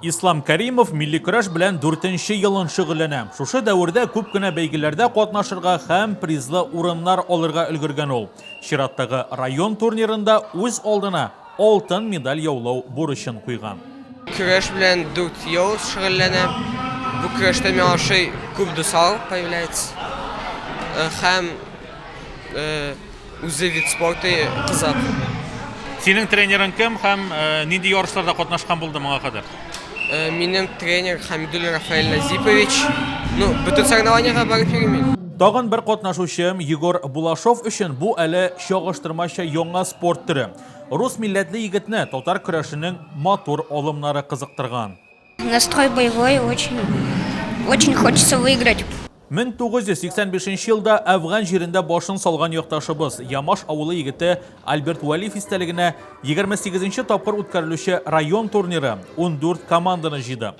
Ислам Кәримов милли көрәш белән дүртенче елын шөгыльләнә. Шушы дәвердә күп кенә бәйгеләрдә катнашырга һәм призлы урыннар алырга өлгергән ул. Чираттагы район турнирында үз алдына алтын медаль яулау бурычын куйган. Көрәш белән дүрт ел шөгыльләнә. Бу көрәштә миңа ошый күп дуслар появляется. Һәм Үзе вид спорты кызат. Синең тренерың кем һәм нинди ярышларда катнашкан булды моңа кадәр? Минем тренер Хамидуллин Рафаэль Назипович. Ну, бөтен соревнованиега барып йөрим. Тагын бер катнашучым Егор Булашов өчен бу әле чагыштырмача яңа спорт төре. Рус милләтле егетне татар көрәшенең матур алымнары кызыктырган. Настрой боевой, очень, очень хочется выиграть. 1985 нче елда Әфган җирендә башын салган якташыбыз, Ямаш авылы егете Альберт Вәлиев истәлегенә 28 нче тапкыр үткәрелүче район турниры 14 команданы җыйды.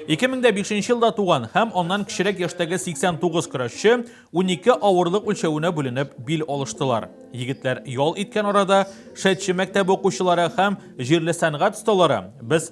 2005 елда туган һәм аннан кечерәк яшьтәге 89 көрәшче 12 авырлык үлчәвенә бүленеп бил алыштылар. Егетләр ял иткән арада Шәтче мәктәбе укучылары һәм җирле сәнгать осталары без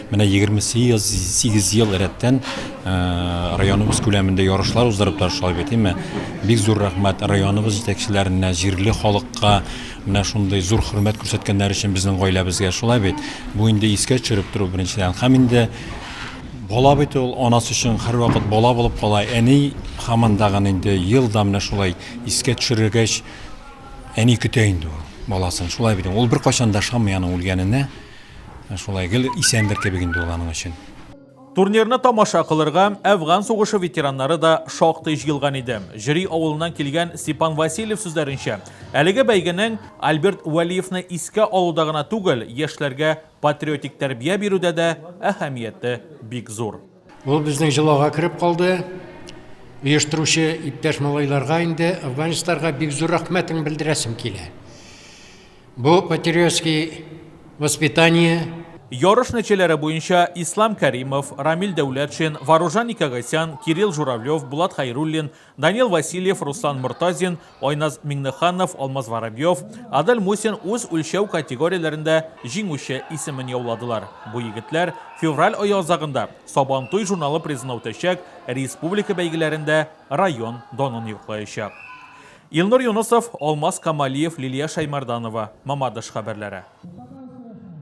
Менә егерме сигез ел рәттән районыбыз күләмендә ярышлар уздырып тора шулай бит, әйме? Бик зур рәхмәт районыбыз җитәкчеләренә, җирле халыкка менә шундый зур хөрмәт күрсәткәннәре өчен безнең гаиләбезгә, шулай бит? Бу инде искә төшереп тору беренчедән. Һәм инде бала бит ул, анасы өчен һәрвакыт бала булып кала. Әни һаман тагын инде ел да менә шулай искә төшерергәч, әни көтә инде ул баласын, шулай бит? Ул беркайчан да ышанмый аның үлгәненә. Шулай гел исәндер кебек инде ул аның өчен. Турнирны тамаша кылырга Әфган сугышы ветераннары да шактый җыелган иде. Җөри авылыннан килгән Степан Васильев сүзләренчә, әлеге бәйгенең Альберт Вәлиевны искә алуда гына түгел, яшьләргә патриотик тәрбия бирүдә дә әһәмияте бик зур. Ул безнең җолага кереп калды. Оештыручы иптәш малайларга инде, афганецларга бик зур рәхмәтен белдерәсем килә. Бу патриотский воспитание. Ярыш нәтиҗәләре буенча Ислам Кәримов, Рамил Дәүләтшин, Варужан Никагасян, Кирилл Журавлев, Булат Хәйруллин, Данил Васильев, Руслан Мортазин, Айназ Миңнеханов, Алмаз Воробьев, Адель Мусин үз үлчәү категорияләрендә җиңүче исемен яуладылар. Бу егетләр февраль ае азагында Сабантуй журналы призына үтәчәк республика бәйгеләрендә район данын яклаячак. Илнур Юнысов, Алмаз Камалиев, Лилия Шәймарданова, Мамадыш хәбәрләре.